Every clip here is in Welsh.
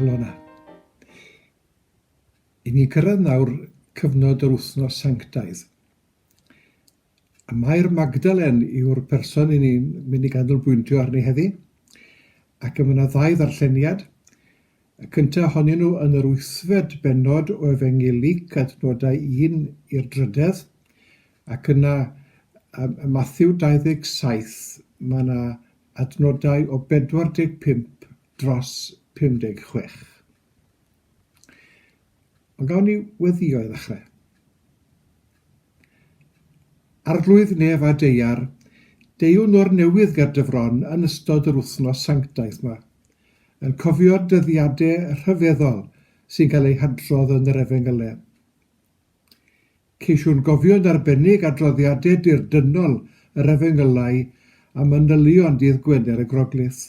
Elona. I ni gyrraedd nawr cyfnod yr wythnos sanctaidd. A mae'r Magdalen yw'r person i ni'n mynd i ganolbwyntio arni heddi. Ac y yna ddau ddarlleniad. Y cyntaf ohonyn nhw yn yr wythfed benod o Efengyl Luc adnodau 1 i'r drydedd. Ac yna, ym Mathew 27, mae yna adnodau o 45 dros 56. Ond gawn ni weddio i ddechrau. Arglwydd nef a deiar, deiwn o'r newydd ger dy fron yn ystod yr wythnos sanctaidd yma, yn cofio'r dyddiadau rhyfeddol sy'n cael eu hadrodd yn yr Efengylau. Ceisiwn gofio'n arbennig adroddiadau dirdynnol yr Efengylai a manylion Dydd Gwener y Groglith.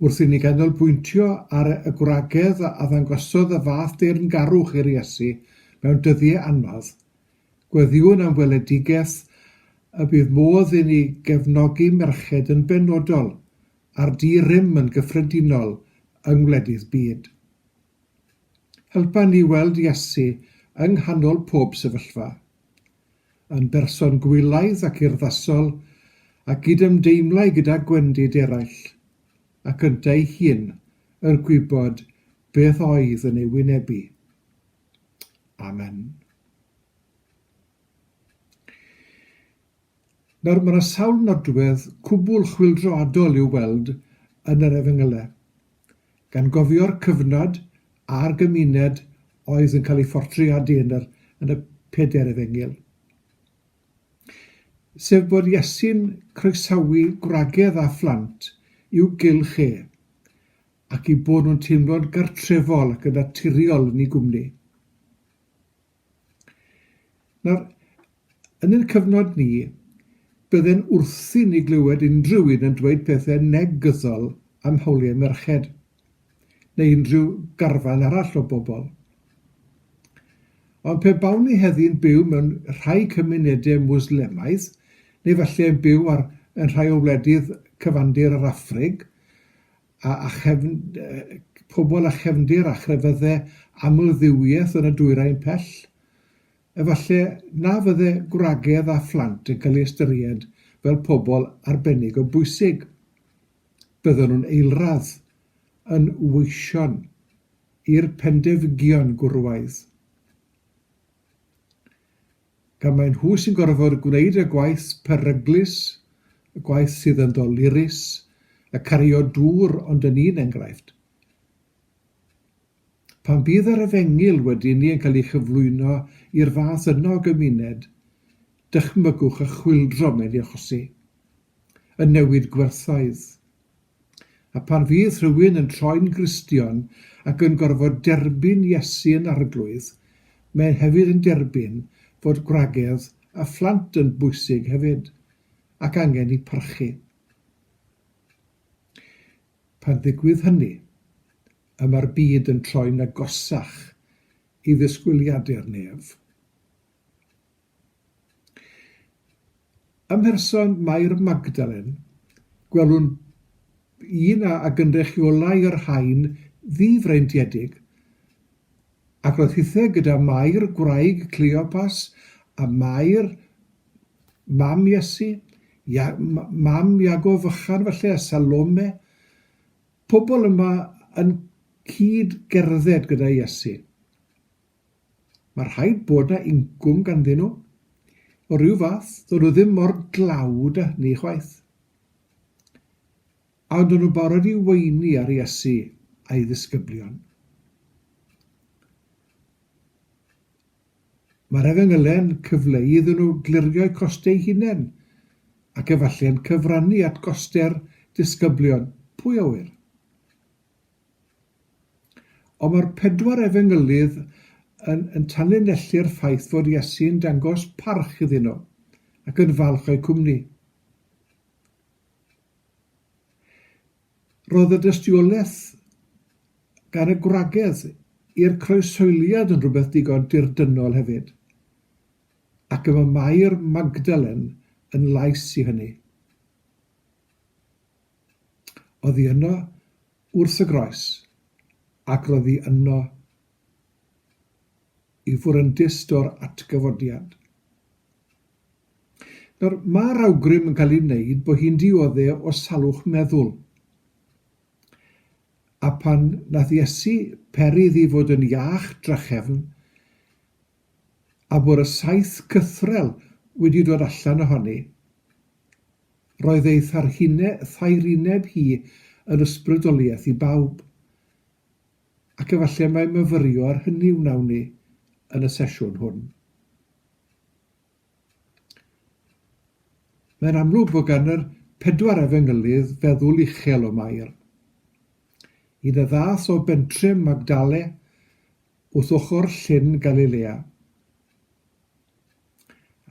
Wrth i ni ganolbwyntio ar y gwragedd a ddangosodd y fath deyrngarwch i'r Iesu mewn dyddiau anodd, gweddiwn am weledigaeth y bydd modd i ni gefnogi merched yn benodol, a'r di-rym yn gyffredinol, yng ngwledydd byd. Helpa ni weld Iesu yng nghanol pob sefyllfa, yn berson gwylaidd ac urddasol a gydymdeimlai gyda gwendid eraill, ac yntau ei hun, er gwybod beth oedd yn ei wynebu. Amen. Nawr, mae yna sawl nodwedd cwbl chwyldroadol i'w weld yn yr Efengylau. gan gofio'r cyfnod a'r gymuned oedd yn cael ei phortreadu yn yr yn y Pedair Efengyl, sef bod Iesu'n croesawu gwragedd a phlant i'w gylch e, ac i bod nhw'n teimlo'n gartrefol ac yn naturiol yn ei gwmni. Nawr, yn ein cyfnod ni, bydde'n wrthi ni glywed unrhyw un yn dweud pethau negyddol am hawliau merched, neu unrhyw garfan arall o bobl. Ond pe bawn ni heddi'n byw mewn rhai cymunedau Mwslemaidd, neu falle yn byw ar, yn rhai o wledydd cyfandir yr Affrig, a phobl â chefndir a chrefydde amldduwiaeth yn y dwyrain pell, efallai na fydde gwragedd a phlant yn cael eu ystyried fel pobl arbennig o bwysig. Bydden nhw'n eilradd yn weision i'r pendefgion gwrywaidd. Gan mai nhw sy'n gorfod gwneud y gwaith peryglus, y gwaith sydd yn ddolurus, y cario dŵr ond yn un enghraifft. Pan fydd yr efengyl wedi ni yn cael ei chyflwyno i'r fath yno o gymuned, dychmygwch y chwyldro mae'n ei achosi, y newid gwerthoedd, A phan fydd rhywun yn troi'n Gristion ac yn gorfod derbyn Iesu yn Arglwydd, mae e'n hefyd yn derbyn fod gwragedd a phlant yn bwysig hefyd, ac angen eu parchu. Pan ddigwydd hynny, y mae'r byd yn troi'n agosach i ddisgwyliadau'r nef. Ym mherson Mair Magdalen, gwelwn un a a gynrychiolai yr haen ddifreintiedig, ac roedd hithau gyda Mair, gwraig Cleopas, a Mair, mam Iesu, Ia- m- mam Iago fychan falle, a Salome, pobl yma yn cyd-gerdded gyda Iesu. Mae rhaid bod 'na incwm ganddyn nhw, o ryw fath, ddo' nhw ddim mor dlawd â hynny chwaith. A ond o'n nhw'n barod i weini ar Iesu a'i ddisgyblion. Mae'r efengylen cyfleu iddyn nhw glirio'u costau hunain, ac efallai'n cyfrannu at goste'r disgyblion, pwy a ŵyr? Ond mae'r pedwar efengylydd yn yn tanlinellu'r ffaith fod Iesu yn dangos parch iddyn nhw ac yn falch o'u cwmni. Roedd y dystiolaeth gan y gwragedd i'r croeshoeliad yn rhywbeth digon dirdynnol hefyd, ac y mae Mair Magdalen yn lais i hynny. Oddi yno wrth y groes, ac roddi yno i fwryndyst o'r atgyfodiad. Nawr, mae'r awgrym yn cael ei wneud bod hi'n diodde o salwch meddwl. A pan nath Iesu peri iddi fod yn iach drachefn, a bod y saith cythrel wedi dod allan ohoni, Roedd ei tharhine, thaerineb hi yn ysbrydoliaeth i bawb, ac efallai mai myfyrio ar hynny wnawn ni yn y sesiwn hwn. Mae'n amlwg fod gan yr pedwar efengylydd feddwl uchel o Mair. Un y ddath o bentref Magdale wrth ochr llyn Galilea.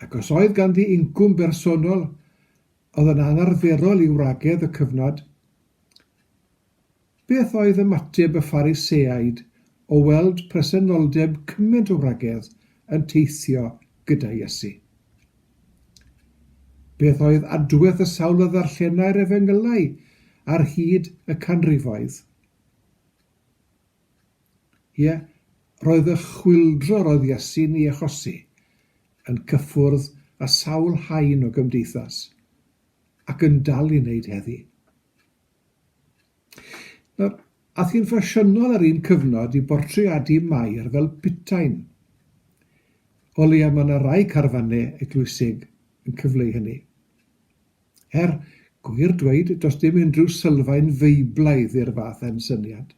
Ac os oedd ganddi incwm bersonol oedd yn anarferol i wragedd y cyfnod, beth oedd ymateb y Phariseaid o weld presenoldeb cymaint o wragedd yn teithio gyda Iesu? Beth oedd adwaith y sawl a ddarllenai'r Efengylau ar hyd y canrifoedd? Ie, roedd y chwyldro roedd Iesu'n ei achosi yn cyffwrdd â sawl haen o gymdeithas, ac yn dal i wneud heddi. Nawr, aeth hi'n ffasiynol ar un cyfnod i bortreadu Mair fel putain. O leia mae yna rai carfanau eglwysig yn cyfleu hynny. Er, gwir dweud, does dim unrhyw sylfaen Feiblaidd i'r fath ensyniad.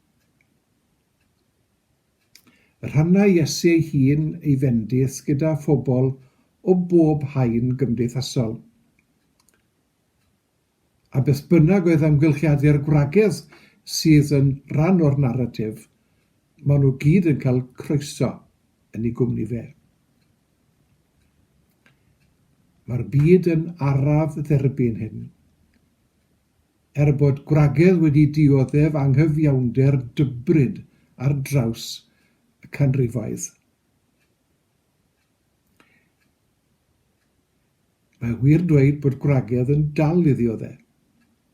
Rhanna Iesu ei hun, ei fendith, gyda phobl o bob haen gymdeithasol. A beth bynnag oedd amgylchiadu'r gwragedd sydd yn rhan o'r naratif, maen nhw gyd yn cael croeso yn ei gwmni fe. Mae'r byd yn araf dderbyn hyn. Er bod gwragedd wedi dioddef anghyfiawnder dybryd ar draws y canrifoedd, mae wir dweud bod gwragedd yn dal i ddiodde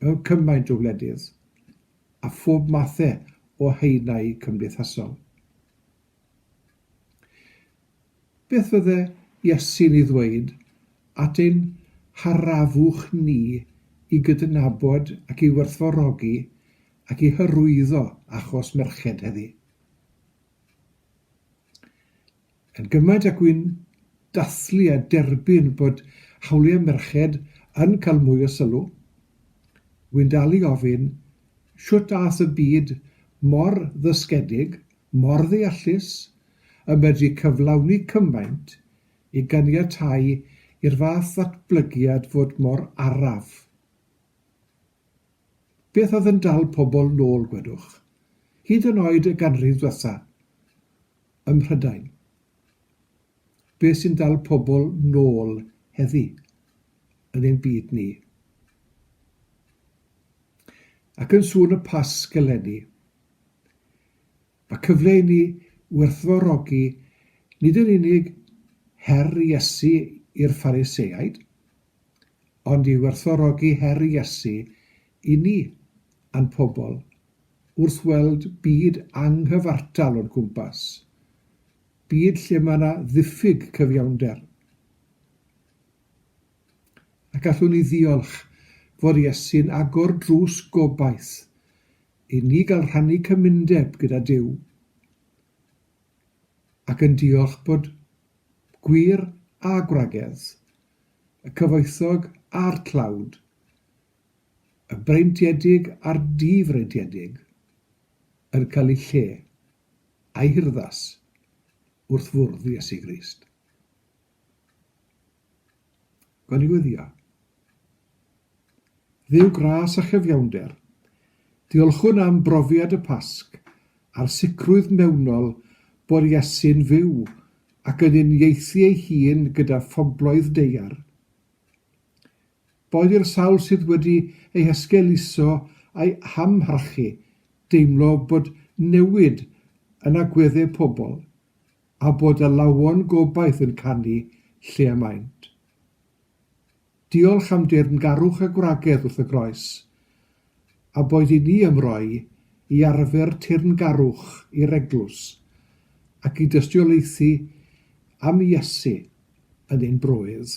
mewn cymaint o wledydd a phob mathe o haenau cymdeithasol. Beth fydde Iesu'n ei ddweud at ein harafwch ni i gydnabod ac i werthfawrogi ac i hyrwyddo achos merched heddi? Yn gymaint ag wy'n dathlu a derbyn bod hawliau merched yn cael mwy o sylw, wy'n dal i ofyn, shwt aeth y byd mor ddysgedig mor ddeallus y medru cyflawni cymaint i ganiatáu i'r fath ddatblygiad fod mor araf. Beth oedd yn dal pobl nôl, gwedwch, hyd yn oed y ganrif ddwetha, ym Mhrydain? Beth sy'n dal pobl nôl heddi, yn ein byd ni? Ac yn sŵn y Pasg eleni, Mae cyfle i ni werthfawrogi nid yn unig her Iesu i'r Phariseaid, ond i werthfawrogi her Iesu i ni a'n pobl wrth weld byd anghyfartal o'n cwmpas, byd lle mae yna ddiffyg cyfiawnder. A gallwn ni ddiolch fod Iesu'n agor drws gobaith I ni gael rhannu cymundeb gyda Duw ac yn diolch bod gwir a gwragedd, y cyfoethog a'r tlawd, y breintiedig a'r di-freintiedig yn cael eu lle, a'u hurddas, wrth fwrdd Iesu Grist. Gweddïo. Dduw gras a chyfiawnder, diolchwn am brofiad y Pasg a'r sicrwydd mewnol bod Iesu'n fyw ac yn uniaethu ei hun gyda phobloedd deuar. Boed i'r sawl sydd wedi eu hesgeuluso a'u hamharchu deimlo bod newid yn agweddau pobl, a bod y lawon gobaith yn canu lle y maent. Diolch am deyrngarwch a gwragedd wrth y groes, a boed i ni ymroi i arfer teyrngarwch i'r Eglwys, ac i dystiolaethu am Iesu yn ein bröydd.